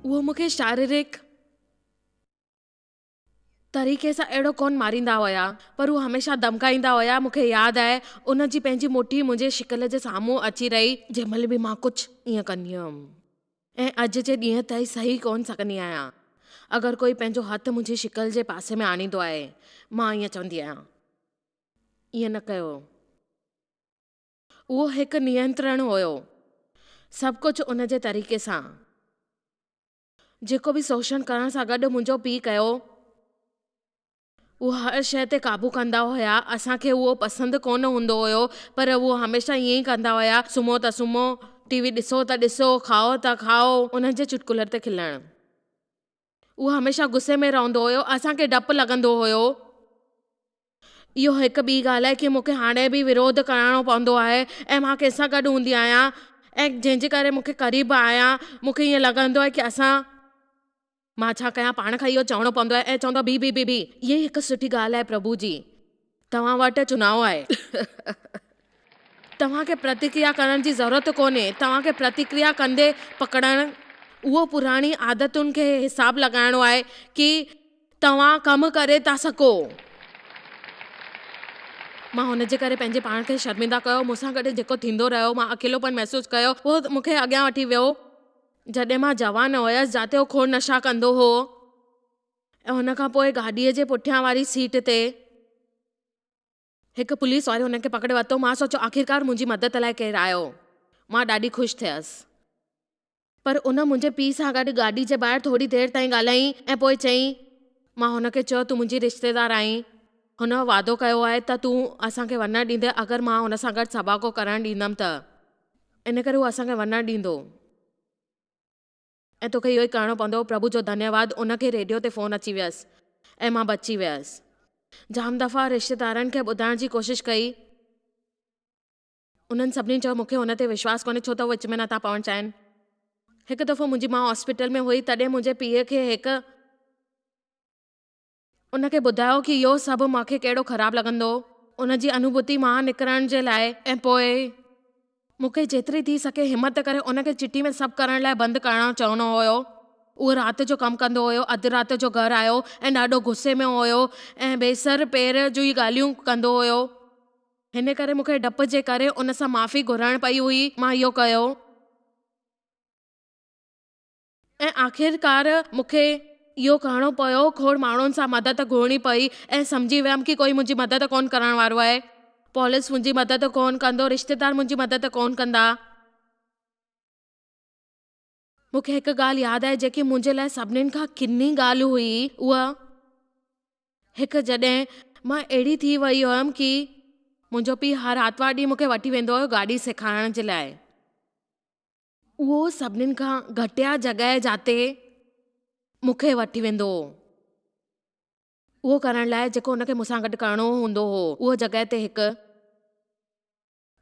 هو مون کي شاريرڪ طريقي سان اهڙو ڪونه ماريندا هيا، پر هو هميشه ڌمڪائيندا هيا. مون کي ياد آهي، ان جي پنهنجي مٺي منهنجي شڪل جي سامهون اچي رهي، جنهن مهل به مان ڪجهه ائين ڪندي هيم. ۽ اڄ جي ڏينهن تائين سهي ڪونه سگهندي آهيان. اگر ڪوئي پنهنجو هٿ منهنجي شڪل جي پاسي ۾ آڻيندو آهي، مان ائين چوندي آهيان، ائين نه ڪيو. اهو هڪ نينترڻ هيو، سڀ ڪجهه ان جي طريقي سان. جيڪو به شوشڻ ڪرڻ سان گڏ منهنجو پيء ڪيو، اهي هر شيء تي قابو ڪندا هيا. اسان کي اهو پسند ڪونه هوندو هيو، پر اهي هميشه ائين ئي ڪندا هيا. سمهو ته سمهو، ٽي وي ڏسو ته ڏسو، کائو ته کائو. انهن جي چٽڪلن تي کلڻ. اهو هميشه غصي ۾ رهندو هيو. اسان کي ڊپ لڳندو هيو. اهو هڪ ٻي ڳالهه آهي ڪي مون کي هاڻي به وروڌ ڪرڻو پوندو آهي ۽ مان ڪنهن سان گڏ هوندي آهيان ۽ جنهن جي ڪري مون کي قريب آهيان، مون کي ائين لڳندو آهي ڪي اسان. مان ڇا ڪيان، پاڻ کان اهو چوڻو پوندو آهي ۽ چوندو بي بي بي بي، اهي هڪ سٺي ڳالهه آهي پرڀو جي، توهان وٽ چناء آهي. توهان کي پرتڪريا ڪرڻ جي ضرورت ڪونهي، توهان کي پرتڪريا ڪندي پڪڙڻ اهو پراڻي عادتن کي حساب لڳائڻو آهي ڪي توهان ڪم ڪري ٿا سگهو. مان هن جي ڪري پنهنجي پاڻ کي شرمنده ڪيو، مون سان گڏ جيڪو ٿيندو رهيو، مان اڪيلوپن محسوس ڪيو، اهو مون کي اڳيان وٺي ويو. جڏهن مان جوان هيس جاتي هو کوڙ نشا ڪندو هو ۽ ان کان پوء گاڏيء جي پٺيان واري سيٽ تي هڪ پوليس واري هن کي پڪڙي ورتو. مان سوچيو آخرڪار منهنجي مدد لاء ڪير آيو. مان ڏاڍي خوش ٿيس. پر ان منهنجي پيء سان گڏ گاڏي جي ٻاهر ٿوري دير تائين ڳالهائين ۽ پوء چيائين. مان هن کي چيو تون منهنجي رشتيدار آهين. هن وعدو ڪيو آهي ته تون اسان کي وڃڻ ڏيندين اگر مان هن سان گڏ سڀاڳو ڪرڻ ڏيندم ته. ان ڪري هو اسان کي ونڊڻ ڏيندو ۽ توکي اهو ئي ڪرڻو پوندو. پرڀو جو ڌنيواد ان کي ريڊيو تي فون اچي ويس ۽ مان بچي ويس. جام دفعا رشتيدارن کي ٻڌائڻ جي ڪوشش ڪئي. انهن سڀني چيو مون کي ان تي وشواس ڪونهي ڇو ته هو وچ ۾ نٿا پوڻ چاهين. هڪ دفعو منهنجي ماء هاسپيٽل ۾ هئي تڏهن منهنجي پيء کي هڪ. ان کي ٻڌايو ڪي اهو سڀ مان کي ڪهڙو خراب لڳندو. ان جي انوڀوتي مان نڪرڻ جي لاء ۽ پوء مون کي جيتري ٿي سگهي همت ڪري ان کي چٽي ۾ سڀ ڪرڻ لاء بند ڪرڻو چوڻو هيو. اهو رات جو ڪم ڪندو هيو. اڌ رات جو گهر آيو ۽ ڏاڍو غصي ۾ هيو ۽ بي سر پير جون ئي ڳالهيون ڪندو هيو. هن ڪري مون کي ڊپ جي ڪري ان سان معافي گهرڻ پئي هئي. مان اهو ڪيو. ۽ آخرڪار مون کي اهو ڪرڻو پيو، کوڙ ماڻهن سان مدد گهرڻي پئي ۽ سمجهي ويم ڪي ڪوئي منهنجي مدد ڪونه ڪرڻ وارو آهي. پوليس منهنجي مدد ڪونه ڪندو، رشتيدار منهنجي مدد ڪونه ڪندا. مون کي هڪ ڳالهه ياد آهي جيڪي منهنجي لاء سڀني کان ڪني ڳالهه هئي اها هڪ جڏهن مان اهڙي ٿي وئي هيم ڪي منهنجو پيء هر آرتوار ڏينهن مون کي وٺي ويندو هيو گاڏي سيکارڻ جي لاء. اهو سڀني کان گهٽيا جڳهه جاتي مون کي وٺي ويندو هو، اهو ڪرڻ لاء جيڪو هن کي مون سان گڏ ڪرڻو هوندو هو، اها جڳهه تي هڪ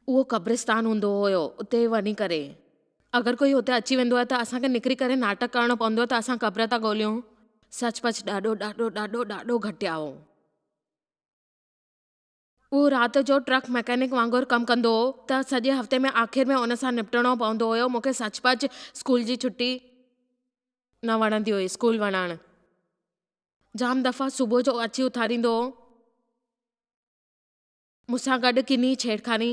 اهو قبرستان هوندو هيو، اتي وڃي ڪري. اگر ڪوئي هتي اچي ويندو آهي ته اسان کي نڪري ڪري ناٽڪ ڪرڻو پوندو آهي ته اسان قبر ٿا ڳوليون، سچ پچ ڏاڍو ڏاڍو ڏاڍو ڏاڍو گهٽيا هو. هو رات جو ٽرڪ مڪينڪ وانگر ڪم ڪندو هو ته سڄي هفتي ۾ آخر ۾ ان سان نبٽڻو پوندو هيو. مون کي سچ پچ اسڪول جي ڇٽي نه وڻندي هئي. اسڪول وڃڻ جام دفعا صبح جو اچي اٿاريندو هو. مون سان گڏ ڪني ڇيڙکاني.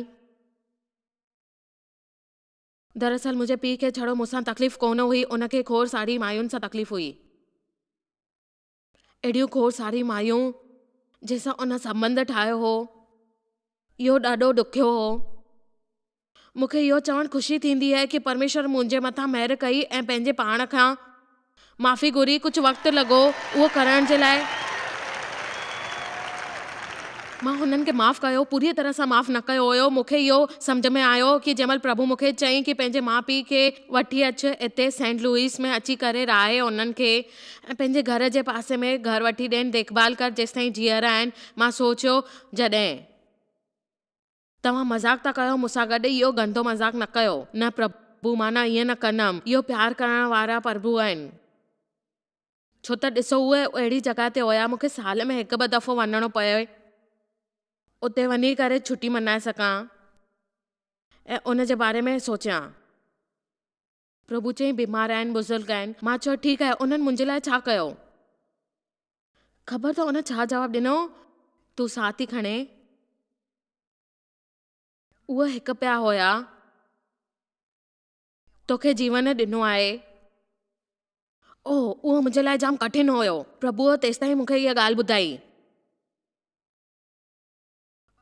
دراصل منهنجي پيء کي ڇڙو مون سان تڪليف ڪونه هئي، ان کي کوڙ ساري مايون سان تڪليف هئي. اهڙيون کوڙ ساري مايون جنهن سان ان سنٻنڌ ٺاهيو هو، اهو ڏاڍو ڏکيو هو. مون کي اهو چوڻ خوشي ٿيندي آهي ڪي پرميشور منهنجي مٿان مهر ڪئي ۽ پنهنجي پاڻ کان معافي گهري، ڪجهه وقت لڳو اهو ڪرڻ جي لاء. مان هنن کي معاف ڪيو، پوريء طرح سان معاف نه ڪيو هيو. مون کي اهو سمجهه ۾ آيو ڪي جنهن مهل پرڀو مون کي چيائين ڪي پنهنجي ماء پيء کي وٺي اچ هتي سينٽ لوئيس ۾ اچي ڪري رهائي انهن کي ۽ پنهنجي گهر جي پاسي ۾ گهر وٺي ڏين ديکڀال ڪر جيستائين جيئرا آهن مان سوچيو جڏهن. توهان مذاق ٿا ڪيو مونسان گڏ اهو گندو مذاق نه ڪيو. نه پرڀو مان نه ائين نه ڪندم اهو پيار ڪرڻ وارا پرڀو آهن. ڇو ته ڏسو اهي اهڙي جڳهه تي هيا مونکي سال ۾ هڪ ٻه دفعو وڃڻو پئي اتي وڃي ڪري ڇٽي ملهائي سگهان ۽ ان جي باري ۾ سوچيان. پرڀو چيائين، بيمار آهن، بزرگ آهن. مان چيو، ٺيڪ آهي، انهن منهنجي لاء ڇا ڪيو؟ خبر اٿئي ان ڇا جواب ڏنو؟ تون ساهه ٿي کڻين؟ اهي هڪ پيا هيا، توکي جيون ڏنو آهي. اوهه، اهو منهنجي لاء جام ڪٺن هيو. پرڀوء تيستائين مونکي اها ڳالهه ٻڌائي.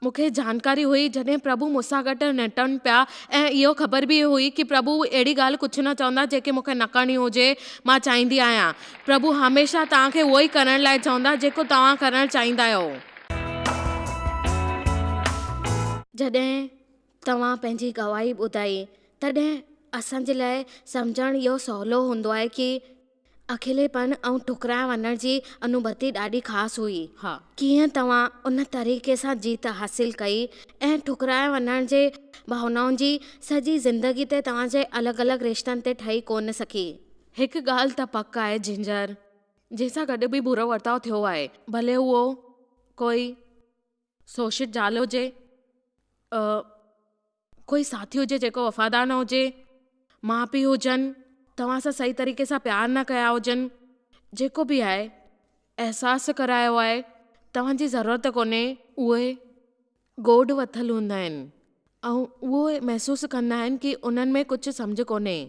مون کي جانڪاري هئي جڏهن پرڀو مون سان گڏ نٽن پيا ۽ اهو خبر به هئي ته پرڀو اهڙي ڳالهه ڪجهه نه چوندا جيڪي مون کي نه ڪرڻي هجي مان چاهيندي آهيان پرڀو هميشه توهان کي اهو ئي ڪرڻ لاء چوندا جيڪو توهان ڪرڻ چاهيندا آهيو. جڏهن توهان پنهنجي گواهي ٻڌائي تڏهن اسان جي لاء سمجهڻ اهو سولو هوندو آهي ته اڪيلي پڻ ۽ ٺڪرائي وڃڻ جي انوڀتي ڏاڍي خاص هئي. ها! ڪيئن توهان ان طريقي سان جيت حاصل ڪئي ۽ ٺڪرائي وڃڻ جي ڀاونائن جي سڄي زندگي تي توهان جي الڳ الڳ رشتن تي ٺهي ڪونه سگهي. هڪ ڳالهه ته پڪ آهي جنجر جنهن سان گڏ به برو ورتاء ٿيو آهي ڀلي هوء ڪوئي سوشٽ زال هجي. ڪوئي ساٿي هجي جيڪو وفادار نه هجي، ماء پيء هجن، توهان سان صحيح طريقي سان پيار نه ڪيا هجن، جيڪو به آهي، احساس ڪرايو آهي، توهان جي ضرورت ڪونهي. اهي گوڏ وٿل هوندا آهن ۽ اهو محسوس ڪندا آهن ڪي انهن ۾ ڪجهه سمجهه ڪونهي.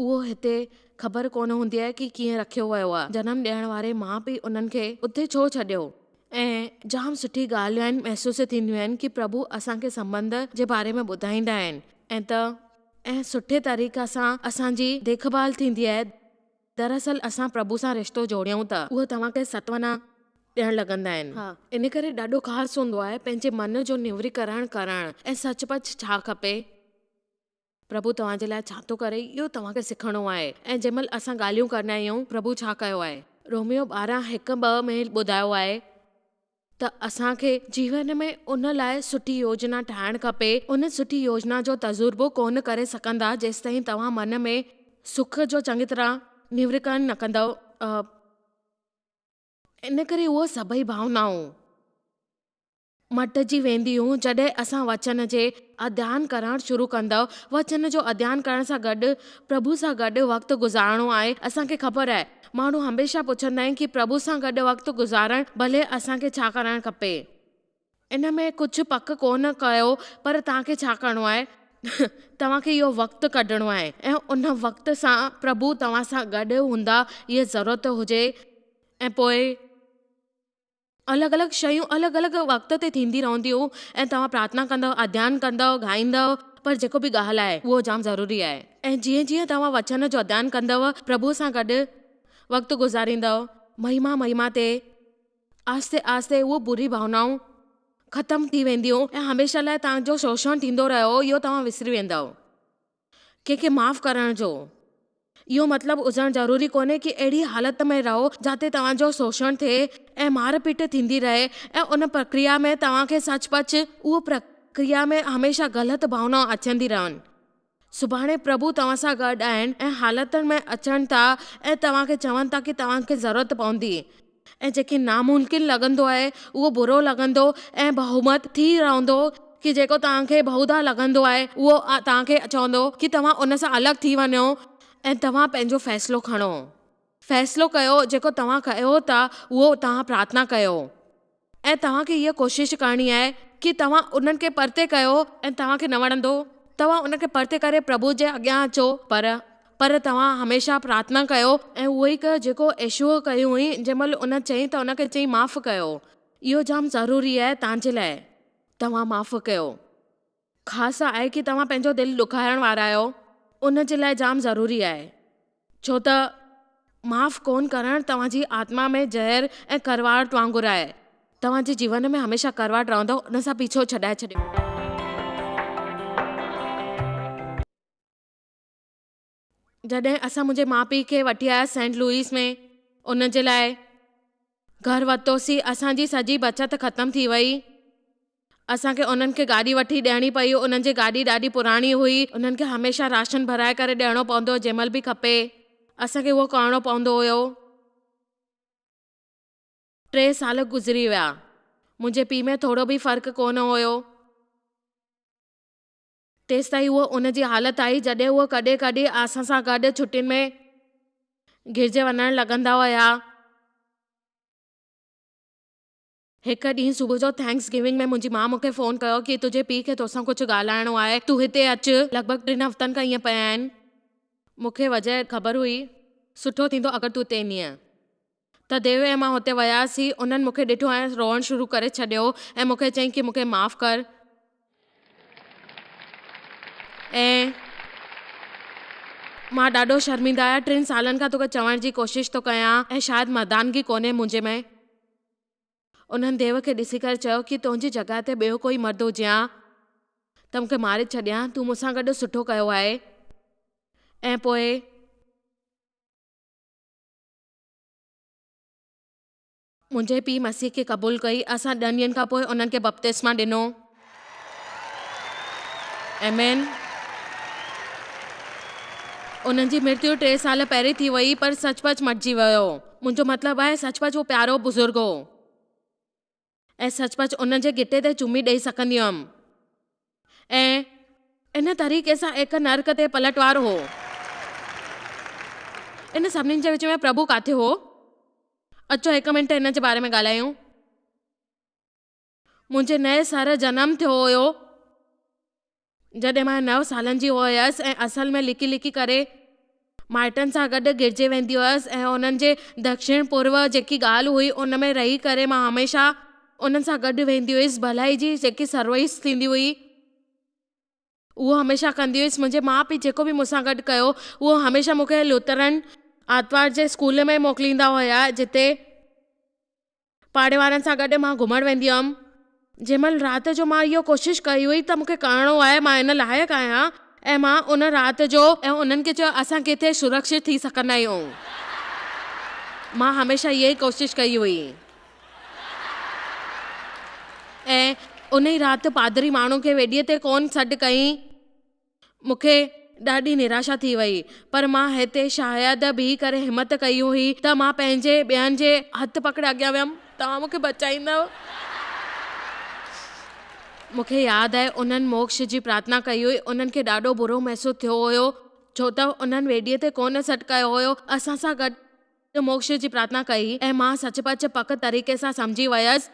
اهو هتي خبر ڪونه هوندي آهي ڪي ڪيئن رکيو ويو آهي. جنم ڏيڻ واري ماء پيء انهن کي اتي ڇو ڇڏيو؟ ۽ جام سٺي ڳالهيون آهن محسوس ٿينديون آهن ڪي پرڀو اسان کي سنبنڌ جي باري ۾ ٻڌائيندا آهن ۽ ته ۽ سٺي طريقي سان اسان جي ديک ڀال ٿيندي آهي دراصل اسان پرڀو سان رشتو جوڙيون ته اهي توهان کي ستوانا ڏيڻ لڳندا آهن. ها ان ڪري ڏاڍو خاص هوندو آهي پنهنجي من جو نيوري ڪرڻ ڪرڻ ۽ سچ پچ ڇا کپي. پرڀو توهان جي لاء ڇا ٿو ڪري، اهو توهان کي سکڻو آهي ۽ جنهن مهل اسان ڳالهيون ڪندا آهيون، پرڀو ڇا ڪيو آهي. روميو ٻارهن هڪ ٻه ۾ ٻڌايو آهي ته اسان کي جيون ۾ ان لاء سٺي يوجنا ٺاهڻ کپي. ان سٺي يوجنا جو تجربو ڪونه ڪري سگهندا جيستائين توهان من ۾ سک جو چڱي طرح نيورڪرڻ نه ڪندؤ. ان ڪري اهي سڀئي ڀاونائون. مٽجي وينديون جڏهن اسان وچن جي اڌيان ڪرڻ شروع ڪندؤ وچن جو اڌيان ڪرڻ سان گڏ پرڀو سان گڏ وقت گذارڻو آهي اسان کي خبر آهي ماڻهو هميشه پڇندا آهن ڪي پرڀو سان گڏ وقت گذارڻ ڀلي اسان کي ڇا ڪرڻ کپي ان ۾ ڪجهه پڪ ڪونه ڪيو پر توهان کي ڇا ڪرڻو آهي توهان کي اهو وقت ڪڍڻو آهي ۽ ان وقت سان پرڀو توهان سان گڏ هوندا هيء ضرورت هجي ۽ پوء. الڳ الڳ شيون الڳ الڳ وقت تي ٿيندي رھنديون ۽ توھان پرارٿنا ڪندؤ اڌيان ڪندؤ ڳائيندؤ پر جيڪو به ڳالھ آھي اھو جام ضروري آھي ۽ جيئن جيئن توھان وچن جو اڌيان ڪندؤ پرڀو سان گڏ وقت گذاريندؤ مھما مھما تي آھستي آھستي اھو بري ڀاونائون ختم ٿي وينديون ۽ ھميشه لاء توھان جو شوشڻ ٿيندو رھيو اھو توھان وسري ويندؤ. ڪنهن کي معاف ڪرڻ جو اهو مطلب هجڻ ضروري ڪونهي ڪي اهڙي حالت ۾ رهو جاتي توهان جو شوشڻ ٿئي ۽ مار پيٽ ٿيندي رهي ۽ ان پرڪريا ۾ توهان کي سچ پچ اهو پرڪريا ۾ هميشه غلط ڀاونائون اچندي رهن. سڀاڻي پرڀو توهان سان گڏ آهن ۽ حالتن ۾ اچن ٿا ۽ توهان کي چون ٿا ڪي توهان کي ضرورت پوندي. ۽ جيڪي ناممڪن لڳندو آهي اهو برو لڳندو ۽ بهومت ٿي رهندو ڪي جيڪو توهان کي بهودا لڳندو آهي اهو توهان کي چوندو ڪي توهان ان سان الڳ ٿي وڃو ۽ توهان پنهنجو فيصلو کڻو فيصلو ڪيو جيڪو توهان ڪيو ٿا اهو توهان پرارٿنا ڪيو ۽ توهان کي هيء ڪوشش ڪرڻي آهي ڪي توهان انهن کي پرتي ڪيو ۽ توهان کي نه وڻندو توهان ان کي پرتي ڪري پرڀو جي اڳيان اچو پر پر توهان هميشه پرارٿنا ڪيو ۽ اهو ئي ڪيو جيڪو يسوع ڪيو هئي جنهن مهل ان چئي ته ان کي چئي معاف ڪيو. اهو جام ضروري آهي توهان جي لاء. توهان معاف ڪيو. خاص آهي ڪي توهان پنهنجو دل ڏکايڻ وارا آهيو ان جي لاء جام ضروري آهي ڇو ته معاف ڪونه ڪرڻ توهان جي آتما ۾ زهر ۽ ڪڙواهٽ وانگر آهي توهان جي جيون ۾ هميشه ڪڙواهٽ رهندو ان سان پيڇو ڇڏائي ڇڏيو. جڏهن اسان منهنجي ماء پيء کي وٺي آياسين سينٽ لوئيس ۾ ان جي لاء گهر ورتوسين اسان جي سڄي بچت ختم ٿي وئي اسان کي انهن کي گاڏي وٺي ڏيڻي پئي انهن جي گاڏي ڏاڍي پراڻي هئي انهن کي هميشه راشن ڀرائي ڪري ڏيڻو پوندو هو جنهن مهل به کپي اسان کي اهو ڪرڻو پوندو هيو ٽي سال گذري ويا منهنجي پيء ۾ ٿورو به فرق ڪونه هيو. تيستائين هوء ان جي حالت آهي جڏهن هوء ڪڏهن ڪڏهن اسان سان گڏ ڇٽين ۾ گرجي وڃڻ لڳندا هيا. هڪ ڏينهن صبح جو ٿينڪس گيونگ ۾ منهنجي ماء مون کي فون ڪيو ڪي تنهنجي پيء کي توسان ڪجهه ڳالهائڻو آهي تون هتي اچ لڳ ڀڳ ٽن هفتن کان ائين پئي آهن. مون کي وجهه خبر هئي. سٺو ٿيندو اگر تون هتي ايندينء. ته ديو ۽ مان هتي وياسين. انهن مونکي ڏٺو ۽ روئڻ شروع ڪري ڇڏيو ۽ مونکي چيائين ڪي مونکي معاف ڪر ۽ مان ڏاڍو شرمنده آهيان ٽن سالن کان توکي چوڻ جي ڪوشش ٿو ڪيان ۽ شايد مردانگي ڪونهي منهنجي ۾. انهن ديو کي ڏسي ڪري چيو ڪي تنهنجي جڳهه تي ٻيو ڪوئي مرد هجي ها ته مونکي ماري ڇڏي ها تون مون سان گڏ سٺو ڪيو آهي ۽ پوء منهنجي پيء مسيح کي قبول ڪئي. اسان ڏهن ڏينهن کان پوء انهن کي بپتسما ڏنو. آمين. انهن جي مرتيو ٽي سال پهرين ٿي وئي، پر سچ پچ مٽجي ويو هو. منهنجو مطلب آهي، سچ پچ هو پيارو بزرگ هو. ۽ سچ پچ ان جي ڳٽي تي چمي ڏئي سڪندي هئم ۽ ان طريقي سان ايڪ نرڪ تي پلٽوار هو. ان سڀني جي وچ ۾ پرڀو ڪاٿي هو؟ اچو هڪ منٽ ان جي باري ۾ ڳالهايون. منهنجي نئين سر جنم ٿيو هيو. جڏهن مان نو سالن جي هئس ۽ اصل ۾ لڪي لڪي ڪري مائٽن سان گڏ گڏجي ويندي هئس ۽ انهن جي دکشڻ پورو جيڪي ڳالهه هئي ان ۾ رهي ڪري مان هميشه انهن سان گڏ ويندي هئس ڀلائي جي جيڪي سرويس ٿيندي هئي اهو هميشه ڪندي هئس منهنجي ماء پيء جيڪو به مون سان گڏ ڪيو اهو هميشه مون کي لوٿرن آرتوار جي اسڪول ۾ موڪليندا هيا جتي پاڙي وارن سان گڏ مان گهمڻ ويندي هئم. جنهن مهل رات جو مان اهو ڪوشش ڪئي هئي ته مون کي ڪرڻو آهي، مان ان لائق آهيان ۽ مان ان رات جو. ۽ انهن کي چيو اسان ڪٿي سرڪشت ٿي سگهندا آهيون. مان هميشه اها ئي ڪوشش ڪئي هئي. ۽ ان ئي رات پادري ماڻهو کي ويڏيء تي ڪونه سڏ ڪيائين. مون کي ڏاڍي نراشا ٿي وئي، پر مان هتي شايد بيهي ڪري همت ڪئي هئي ته مان پنهنجي ٻين جي هٿ پڪڙي اڳيان ويم. توهان مون کي بچائيندؤ؟ مون کي ياد آهي انهن موڪش جي پرارٿنا ڪئي هئي. انهن کي ڏاڍو برو محسوس ٿيو هيو، ڇو ته انهن ويڏيء تي ڪونه سڏ ڪيو هيو. اسان سان گڏ. ته موڪش جي پرارٿنا ڪئي ۽ مان سچ پچ پڪ طريقي سان سمجهي ويس.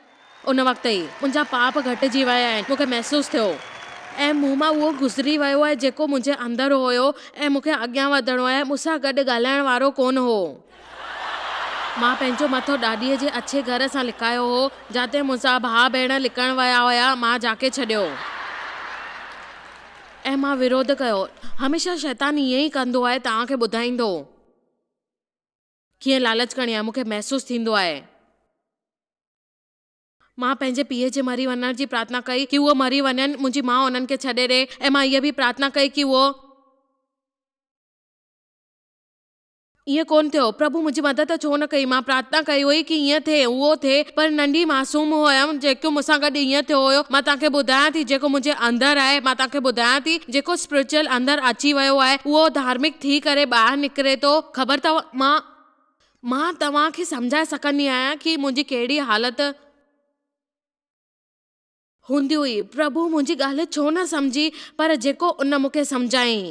ان وقت ئي منهنجا پاپ گهٽجي ويا آهن مون کي محسوس ٿيو ۽ مون مان اهو گذري ويو آهي جيڪو منهنجي اندر هيو ۽ مون کي اڳيان وڌڻو آهي مون سان گڏ ڳالهائڻ وارو ڪونه هو. مان پنهنجو مٿو ڏاڏيء جي اڇي گهر سان لڪايو هو جاتي منهنجا ڀاء ڀيڻ لڪڻ ويا هيا مان جاکي ڇڏيو ۽ مان وروڌ ڪيو هميشه شيطان ائين ئي ڪندو آهي توهان کي ٻڌائيندو. ڪيئن لالچ ڪرڻي آهي، مون کي محسوس ٿيندو آهي. مان پنهنجي پيء جي مري وڃڻ جي پرارٿنا ڪئي ڪي هو مري وڃن، منهنجي ماء انهن کي ڇڏي ڏي ۽ مان هيء به پرارٿنا ڪئي ڪي اهو. ائين ڪونه ٿيو. پرڀو منهنجي مدد ڇو نه ڪئي؟ مان پرارٿنا ڪئي هئي ڪي هيئن ٿئي، اهو ٿئي. پر ننڍي معصوم هئم، جيڪو مون سان گڏ هيئن ٿيو هيو. مان توهان کي ٻڌايان ٿي جيڪو منهنجي اندر آهي، مان توهان کي ٻڌايان ٿي. جيڪو Spiritual اندر اچي ويو آهي اهو ڌارمڪ ٿي ڪري ٻاهر نڪري ٿو خبر اٿو مان مان توهان کي سمجهائي سگهندي آهيان ڪي منهنجي ڪهڙي حالت هوندي هئي پرڀو منهنجي ڳالهه ڇو نه سمجهي پر جيڪو ان مون کي سمجهايائين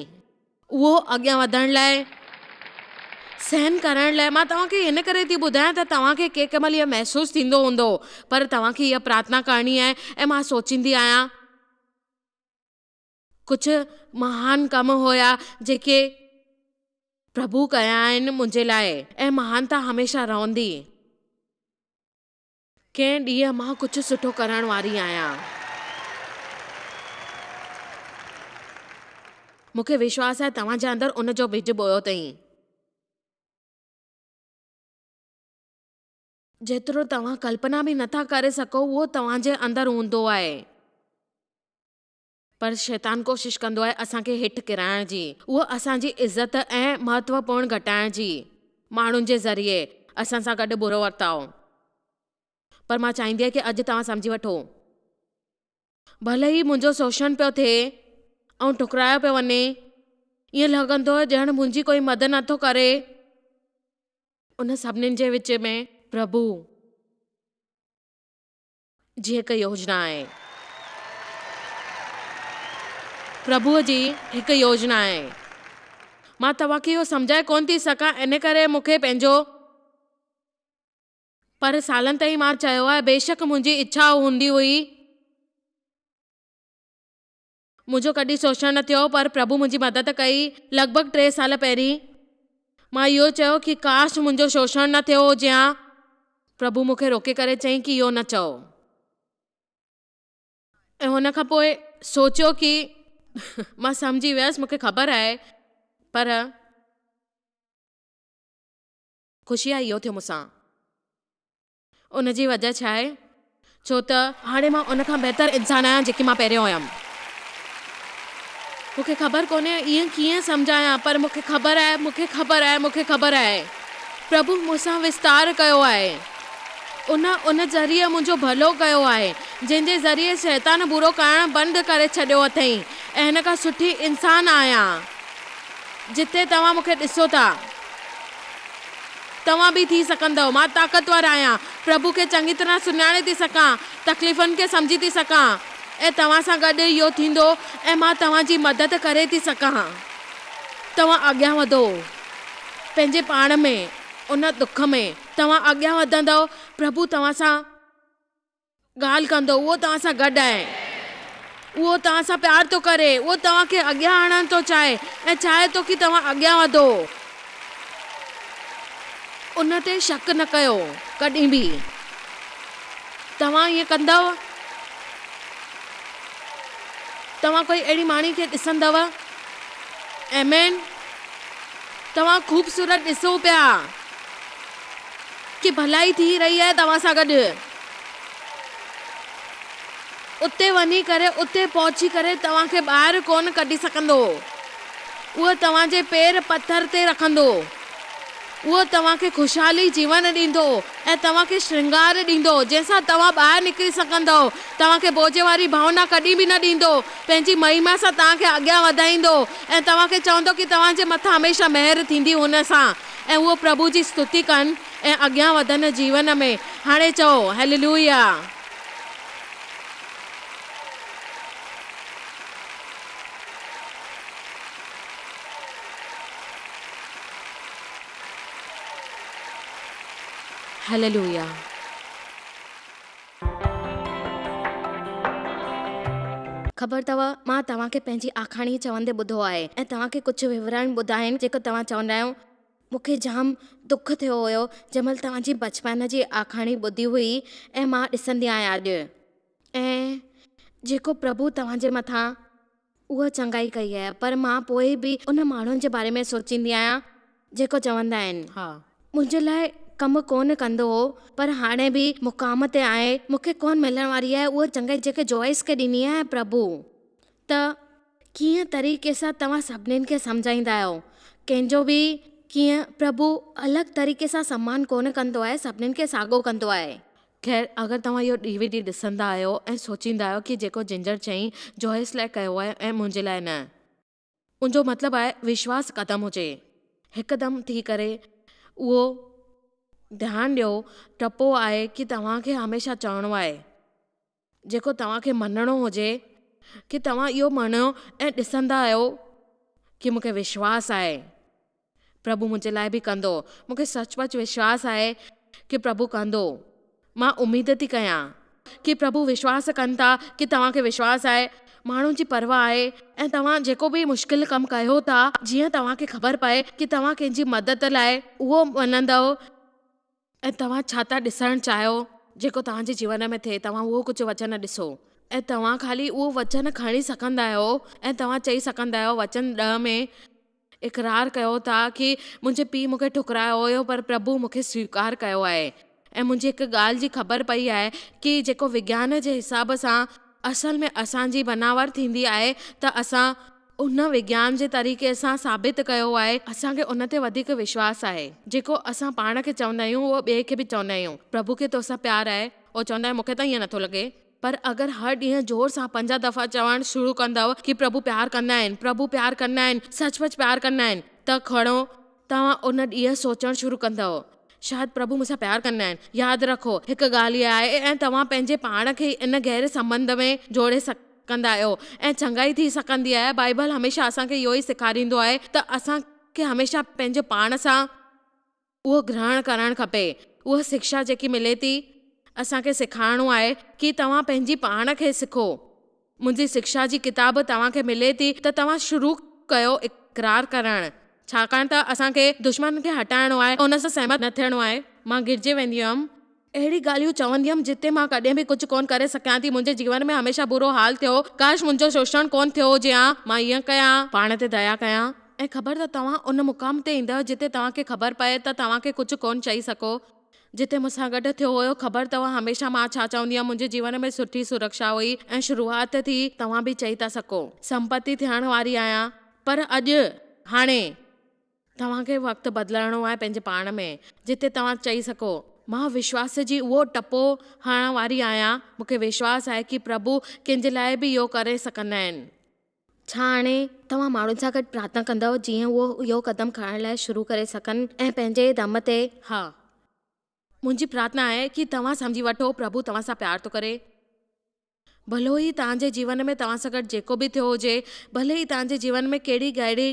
اهو اڳيان وڌڻ لاء سهن ڪرڻ لاء مان توهان کي ان ڪري ٿي ٻڌايان ته توهان کي ڪنهن مهل اهي محسوس ٿيندو هوندو پر توهان کي اها پرارٿنا ڪرڻي آهي ۽ مان سوچيندي آهيان ڪجهه مهان ڪم هيا جيڪي پرڀو ڪيا آهن منهنجي لاء ۽ مهانتا هميشه رهندي. ڪنهن ڏينهن مان ڪجهه سٺو ڪرڻ واري آهيان. مون کي وشواس آهي توهان جي اندر ان جو ٻج ٻويو اٿئي. جيترو توهان ڪلپنا به نٿا ڪري سگهو اهو توهان جي اندر هوندو آهي. پر شيطان ڪوشش ڪندو آهي اسان کي هيٺ ڪرائڻ جي، اهو اسان جي عزت ۽ مهتوپورڻ گهٽائڻ جي، ماڻهن جي ذريعي اسان سان گڏ برو ورتاء. پر مان چاهيندي آهي ڪي اڄ توهان سمجهي وٺو. ڀلي ئي منهنجو سوشڻ پيو ٿئي ۽ ٺڪرايو پيو وڃي، ائين لڳندو هو ڄڻ منهنجي ڪوئي مدد نٿو ڪري. ان سڀني جي وچ ۾ پرڀو جي هڪ يوجنا آهي. پرڀو جي هڪ يوجنا آهي. مان توهان کي اهو سمجهائي ڪونه ٿي سگهان ان ڪري مون کي پنهنجو پر سالن تائين مان چيو آهي بيشڪ منهنجي اڇا هوندي هئي. منهنجو ڪڏهن سوشڻ نه ٿيو پر پرڀو منهنجي مدد ڪئي لڳ ڀڳ ٽي سال پهرين مان اهو چيو ڪي ڪاش منهنجو سوشڻ نه ٿيو هجي هان پرڀو مون کي روڪي ڪري چئي ڪي اهو نه چئو ۽ هن کان پوء سوچيو ڪي مان سمجهي ويس مون کي خبر آهي پر. خوشي آهي اهو ٿيو مون سان. ان جي وجهه ڇا آهي؟ ڇو ته. هاڻي مان ان کان بهتر انسان آهيان جيڪي مان پهريون هيم. مون کي خبر ڪونهي اهي ڪيئن سمجهايان پر مون کي خبر آهي، مون کي خبر آهي، مون کي خبر آهي. پرڀو مون سان وستار ڪيو آهي. ان ان ذريعي منهنجو ڀلو ڪيو آهي، جنهن جي ذريعي شيطان برو ڪرڻ بند ڪري ڇڏيو اٿئين ۽ هن کان سٺي انسان آهيان جتي توهان مون کي ڏسو ٿا. توهان به ٿي سگهندؤ. مان طاقتور آهيان. پرڀو کي چڱي طرح سڃاڻي ٿي سگهان. تڪليفن کي سمجهي ٿي سگهان. ۽ توهان سان گڏ اهو ٿيندو ۽ مان توهان جي مدد ڪري ٿي سگهان. توهان اڳيان وڌو پنهنجي پاڻ ۾ ان دک ۾. توهان اڳيان وڌندؤ. پرڀو توهان سان. ڳالهه ڪندو، اهو توهان سان گڏ آهي، اهو توهان سان پيار ٿو ڪري، اهو توهان کي اڳيان آڻڻ ٿو چاهي ۽ چاهي ٿو ڪي توهان اڳيان وڌو. ان تي شڪ نه ڪيو ڪڏهن به توهان ائين ڪندؤ، توهان ڪوئي اهڙي ماڻهي کي ڏسندؤ. آمين. توهان خوبصورت ڏسو پيا ڪي ڀلائي ٿي رهي آهي توهان سان گڏ. اتي وڃي ڪري اتي پهچي ڪري توهان کي ٻاهر ڪونه ڪڍي سگهندو اهو توهان جي پير پٿر تي رکندو اهو توهان کي خوشحالي جيون ڏيندو ۽ توهان کي شرنگار ڏيندو جنهن سان توهان ٻاهر نڪري سگهندؤ توهان کي بوجهه واري ڀاونا ڪڏهن به نه ڏيندو پنهنجي مهيما سان توهان کي اڳيان وڌائيندو ۽ توهان کي چوندو ڪي توهان جي مٿان هميشه مهر ٿيندي هن سان ۽ اهو پرڀو جي ستوتي ڪن. ۽ اڳيان وڌن جيون ۾. هاڻي چئو، هيللويا! هيللويا! خبر اٿئو، مان توهان کي پنهنجي آکاڻي چوندي ٻڌو آهي ۽ توهان کي ڪجهه وورائڻ ٻڌائين جيڪو توهان چوندا آهيو، مون کي جام دک ٿيو هيو جنهن مهل توهان جي بچپن جي آکاڻي ٻڌي هئي ۽ مان ڏسندي آهيان اڄ ۽ جيڪو پرڀو توهان جي مٿان اها چڱائي ڪئي آهي پر مان پوء به ان ماڻهن جي باري ۾ سوچيندي آهيان جيڪو چوندا آهن منهنجي لاء ڪم ڪونه ڪندو هو پر هاڻي به مقام تي آهي مون کي ڪونه ملڻ واري آهي اها چڱائي جيڪي جوئس کي ڏني آهي ۽ پرڀو ته ڪيئن طريقي سان توهان سڀني کي سمجهائيندا آهيو؟ ڪنهن جو به ڪيئن؟ پرڀو الڳ طريقي سان سمان ڪونه ڪندو آهي، سڀني کي ساڳو ڪندو آهي. خير، اگر توهان اهو ڊي وي ڊي ڏسندا آهيو ۽ سوچيندا آهيو ڪي جيڪو جنجر چيئين جوهيس لاء ڪيو آهي ۽ منهنجي لاء نه، ان جو مطلب آهي وشواس ختم هجي. هڪدم ٿي ڪري اهو ڌيان ڏيو، ٽپو آهي ڪي توهان کي هميشه چوڻو آهي. جيڪو توهان کي مڃڻو هجي ڪي توهان اهو مڃيو ۽ ڏسندا آهيو ڪي مون کي وشواس آهي پرڀو منهنجي لاء به ڪندو مون کي سچ پچ وشواس آهي ڪي پرڀو ڪندو مان اميد ٿي ڪيان ڪي پرڀو وشواس ڪن ٿا ڪي توهان کي وشواس آهي ماڻهن جي پرواهه آهي ۽ توهان جيڪو به مشڪل ڪم ڪيو ٿا جيئن توهان کي خبر پئي ڪي توهان ڪنهن جي مدد لاء اهو مڃندؤ. ۽ توهان ڇا ٿا ڏسڻ چاهيو جيڪو توهان جي جيون ۾ ٿئي توهان اهو ڪجهه وچن ڏسو ۽ توهان خالي اهو وچن کڻي سگهندا آهيو ۽ توهان چئي سگهندا آهيو وچن ڏهه ۾ اقرار ڪيو ٿا ڪي منهنجي پيء مون کي ٺڪرايو هيو پر پرڀو مون کي سويڪار ڪيو آهي ۽ منهنجي هڪ ڳالهه جي خبر پئي آهي ڪي جيڪو وگيان جي حساب سان اصل ۾ اسان جي بناور ٿيندي آهي ته اسان ان وگيان جي طريقي سان ثابت ڪيو آهي. اسان کي ان تي وڌيڪ وشواس آهي. جيڪو اسان پاڻ کي چوندا آهيون اهو ٻئي کي به چوندا آهيون. پرڀو کي توسان پيار آهي. اهو چوندا آهيون مون کي ته ائين نٿو لڳي. پر اگر هر ڏينهن زور سان پنجاهه دفعا چوڻ شروع ڪندؤ ڪي پرڀو پيار ڪندا آهن، پرڀو پيار ڪندا آهن، سچ پچ پيار ڪندا آهن ته کڻو، توهان ان ڏينهن سوچڻ شروع ڪندؤ، شايد پرڀو مون سان پيار ڪندا آهن. ياد رکو، هڪ ڳالهه اها آهي ۽ توهان پنهنجي پاڻ کي ئي ان گهري سنٻنڌ ۾ جوڙي سگهندا آهيو ۽ چڱائي ٿي سگهندي آهي. بائيبل هميشه اسان کي اهو ئي سيکاريندو آهي ته اسان کي هميشه پنهنجي پاڻ سان اهو گرهڻ ڪرڻ کپي. اها سکشا جيڪي ملي ٿي، اسان کي سيکارڻو آهي ڪي توهان پنهنجي پاڻ کي سکو. منهنجي سکشا جي ڪتاب توهان کي ملي ٿي ته توهان شروع ڪيو اقرار ڪرڻ، ڇاڪاڻ ته اسان کي دشمن کي هٽائڻو آهي، ان سان سهمت نه ٿيڻو آهي. مان گرجي ويندي هيم. اهڙي ڳالهيون ڪندي هيم جتي مان ڪڏهن به ڪجهه ڪونه ڪري سگهيان ٿي. منهنجي جيون ۾ هميشه برو حال ٿيو هو. ڪاش منهنجو شوشڻ ڪونه ٿيو هجي ها. مان ائين ڪيان. پاڻ تي ديا ڪيان ۽ خبر ته توهان ان مقام تي ايندؤ جتي توهان کي خبر پئي ته توهان کي ڪجهه ڪونه چئي سگهو. جتي مون سان گڏ ٿيو هيو خبر اٿو هميشه مان ڇا چوندي هيم منهنجي جيون ۾ سٺي سرڪشا هئي ۽ شروعات ٿي توهان به چئي ٿا سگهو سمپتي ٿيڻ واري آهيان پر اڄ هاڻي توهان کي وقت بدلڻو آهي پنهنجي پاڻ ۾ جتي توهان چئي سگهو مان وشواس جي اهو ٽپو هڻڻ واري آهيان مون کي وشواس آهي ڪي پرڀو ڪنهن جي لاء به اهو ڪري سگهندا آهن. ڇا هاڻي توهان ماڻهن سان گڏ پرارٿنا ڪندؤ جيئن هو اهو قدم کڻڻ لاء شروع ڪري سگهن ۽ پنهنجي دم تي ها منهنجي پرارٿنا آهي ڪي توهان سمجهي وٺو پرڀو توهان سان پيار ٿو ڪري ڀلو هي توهان جي جيون ۾ توهان سان گڏ جيڪو به ٿيو هجي ڀلي هي توهان جي جيون ۾ ڪهڙي ڪهڙي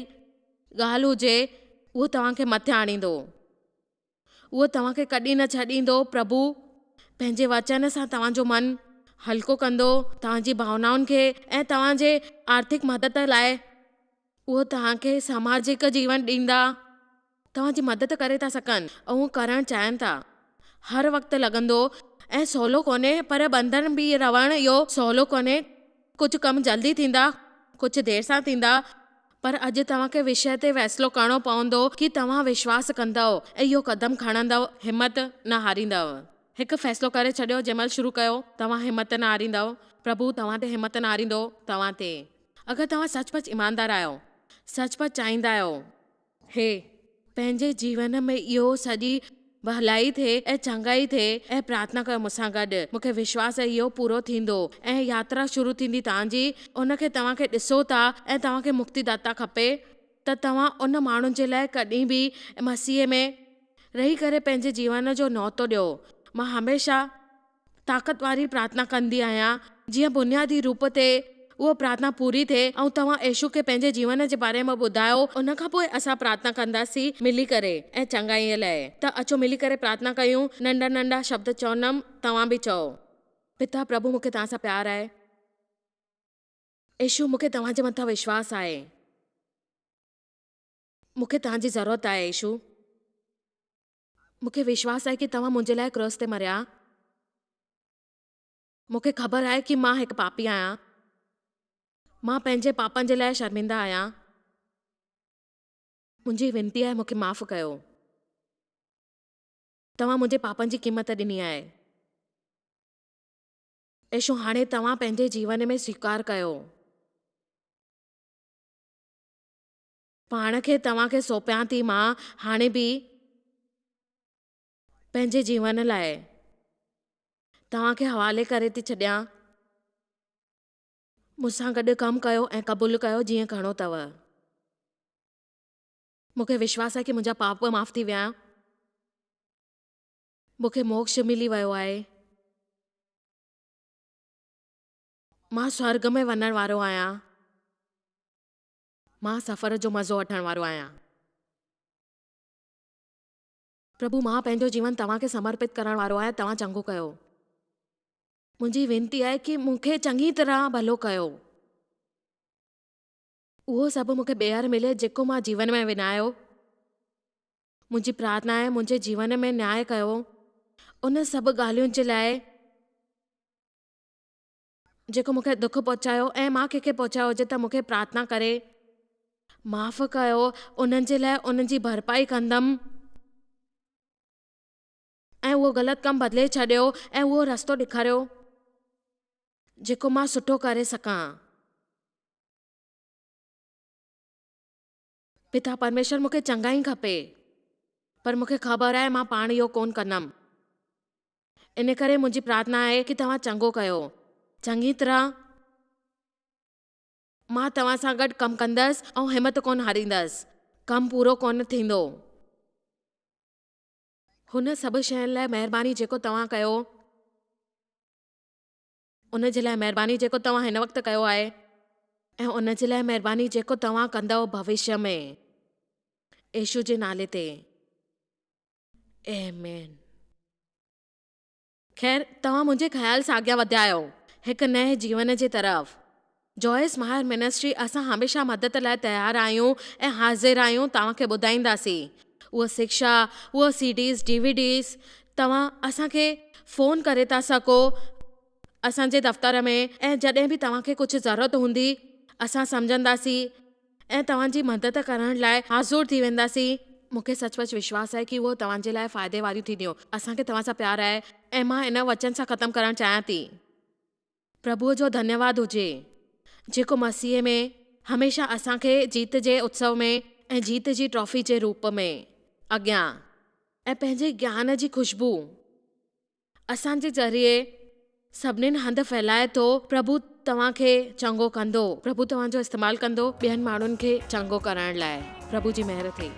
ڳالهه هجي اهو توهان کي مٿي آڻيندو. اهو توهان کي ڪڏهن نه ڇڏيندو، پرڀو پنهنجي وچن سان توهان جو من هلڪو ڪندو، توهان جي ڀاونائن کي ۽ توهان جي آرٿڪ مدد لاء اهو توهان کي سماجڪ جيون ڏيندا، توهان جي مدد ڪري ٿا سگهن، اهو ڪرڻ چاهين ٿا. هر وقت لڳندو ۽ سولو ڪونهي پر ٻنڌڻ ۾ رهڻ اهو سولو ڪونهي، ڪجهه ڪم جلدي ٿيندا، ڪجهه دير سان ٿيندا، پر اڄ توهان کي وشيه تي فيصلو ڪرڻو پوندو ڪي توهان وشواس ڪندؤ ۽ اهو قدم کڻندؤ، همت نه هاريندؤ. هڪ فيصلو ڪري ڇڏيو جنهن مهل شروع ڪيو، توهان همت نه هاريندؤ، پرڀو توهان تي همت نه هاريندو، توهان تي اگر توهان سچ پچ ايماندار آهيو، سچ پچ چاهيندا آهيو. هي. پنهنجي جيون ۾ اهو سڄي ڀلائي ٿئي ۽ چڱائي ٿئي ۽ پرارٿنا ڪيو مون سان گڏ. مون کي وشواس آهي اهو پورو ٿيندو ۽ ياترا شروع ٿيندي توهان جي ان کي توهان کي ڏسو ٿا ۽ توهان کي مڪتي داتا کپي ته توهان ان ماڻهو جي لاء ڪڏهن به مسيح ۾ رهي ڪري پنهنجي جيون جو نوتو ڏيو مان هميشه طاقت واري پرارٿنا ڪندي آهيان جيئن بنيادي روپ تي اها پرارٿنا پوري ٿئي ۽ توهان ايشو کي پنهنجي جيون جي باري ۾ ٻڌايو ان کان پوء اسان پرارٿنا ڪنداسين ملي ڪري ۽ چڱائيء لاء ته اچو ملي ڪري پرارٿنا ڪيون ننڍا ننڍا شبد چوندم توهان به چئو. پتا پرڀو مون کي توهان سان پيار آهي. ايشو مون کي توهان جي مٿان وشواس آهي. مون کي توهان جي ضرورت آهي ايشو. مون کي وشواس آهي ڪي توهان منهنجي لاء ڪراس تي مريا. مون کي خبر آهي ڪي مان هڪ پاپي آهيان. مان پنهنجي پاپن جي لاء شرمنده آهيان. منهنجي وينتي آهي مون کي معاف ڪيو. توهان منهنجي پاپن جي قيمت ڏني آهي. ايشو هاڻي توهان پنهنجي جيون ۾ سويڪار ڪيو. پاڻ کي توهان کي سونپيان ٿي مان هاڻي به پنهنجي جيون لاء توهان کي حوالي ڪري ٿي ڇڏيان مون سان گڏ ڪم ڪيو ۽ قبول ڪيو جيئن ڪرڻو اٿو مون کي وشواس آهي ڪي منهنجا پاپ به معاف ٿي ويا مون کي موڪش ملي ويو آهي مان سورگ ۾ وڃڻ وارو آهيان مان سفر جو مزو وٺڻ وارو آهيان. پرڀو مان پنهنجو جيون توهان کي سمرپت ڪرڻ وارو آهيان توهان چڱو ڪيو. منهنجي وينتي آهي ڪي مون کي چڱي طرح ڀلو ڪيو. اهو سڀ مون کي ٻيهر ملي جيڪو مان جيون ۾ ونايو. منهنجي پرارٿنا آهي منهنجي جيون ۾ نياء ڪيو ان سڀ ڳالهين جي لاء. جيڪو مون کي دک پهچايو ۽ مان ڪنهن کي پهچايو هجي ته مون کي پرارٿنا ڪري معاف ڪيو انهن جي لاء ان جي ڀرپائي ڪندم. ۽ اهو غلط ڪم بدلي ڇڏيو ۽ اهو رستو ڏيکاريو جيڪو مان سٺو ڪري سگهان. پتا پرميشور مون کي چڱائي کپي پر مون کي خبر آهي مان پاڻ اهو ڪونه ڪندم ان ڪري منهنجي پرارٿنا آهي ڪي توهان چڱو ڪيو چڱي طرح مان توهان سان گڏ ڪم ڪندس ۽ همت ڪونه هاريندس ڪم پورو ڪونه ٿيندو هن سڀ شين لاء مهرباني جيڪو توهان ڪيو. ان جي لاء مهرباني جيڪو توهان هن وقت ڪيو آهي. ۽ ان جي لاء مهرباني جيڪو توهان ڪندؤ ڀوشيء ۾. يسوع جي نالي تي. آمين. خير، توهان منهنجي خيال سان اڳيان وڌيا آهيو، هڪ نئين جيون جي طرف. جوئس ماهر منسٽري اسان هميشه مدد لاء تيار آهيون ۽ حاضر آهيون توهان کي ٻڌائينداسين اهو سکشا اهو C Ds D V Ds توهان اسان کي فون ڪري ٿا سگهو اسان جي دفتر ۾ ۽ جڏهن به توهان کي ڪجهه ضرورت هوندي اسان سمجهنداسين ۽ توهان جي مدد ڪرڻ لاء حاضر ٿي وينداسين مون کي سچ پچ وشواس آهي ڪي اهو توهان جي لاء فائدي واريون ٿينديون اسان کي توهان سان پيار آهي ۽ مان ان وچن سان ختم ڪرڻ چاهيان ٿي. پرڀوء جو ڌنيواد هجي، جيڪو مسيح ۾ هميشه اسان کي جيت جي اتسو ۾ ۽ جيت جي ٽرافي جي روپ ۾ اڳيان ۽ پنهنجي گيان جي خوشبوء اسان جي ذريعي سڀنين هنڌ ڦهلائي ٿو. پرڀو توهان کي چڱو ڪندو. پرڀو توهان جو استعمال ڪندو ٻين ماڻهن کي چڱو ڪرڻ لاء. پرڀو جي مهر ٿئي.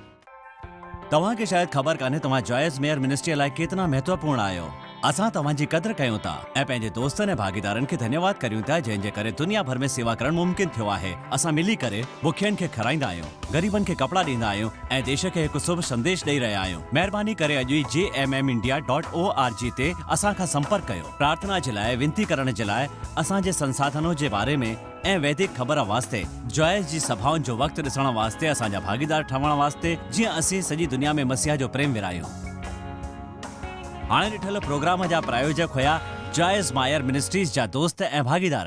توهان کي شايد خبر ڪانهي توهان جائز ميئر منسٽريء لاء ڪيترا مهتوپورڻ آهيو. اسان توهان جي قدر ڪيون ٿا ۽ پنهنجي دوستن ۽ ڀاڳيدارن کي ڌنيواد ڪريون ٿا جنهن جي ڪري دنيا ڀر ۾ سيوا ڪرڻ ممڪن ٿيو آهي. اسان ملي ڪري بکين کي کارائيندا آهيون، غريبن کي ڪپڙا ڏيندا آهيون ۽ ديش کي هڪ سڀ سنديش ڏئي رهيا آهيون. مهرباني ڪري اڄ ئي G M M India dot O R G تي اسان کان سمپرڪ ڪيو. پرارٿنا جي لاء، وينتي ڪرڻ جي لاء، اسان جي سنساڌنون جي باري ۾، ۽ ويدڪ خبر واسطي، جوائس جي سڀائن جو وقت ڏسڻ واسطي اسان جا ڀاڳيدار ٺهڻ واسطي جيئن اسين سڄي دنيا ۾ مسيح جو پريم ورهايون. هاڻي ڏٺل پروگرام جا پرايوجڪ هيا جوائس مائر منسٽريز جا دوست ۽ ڀاڳيدار.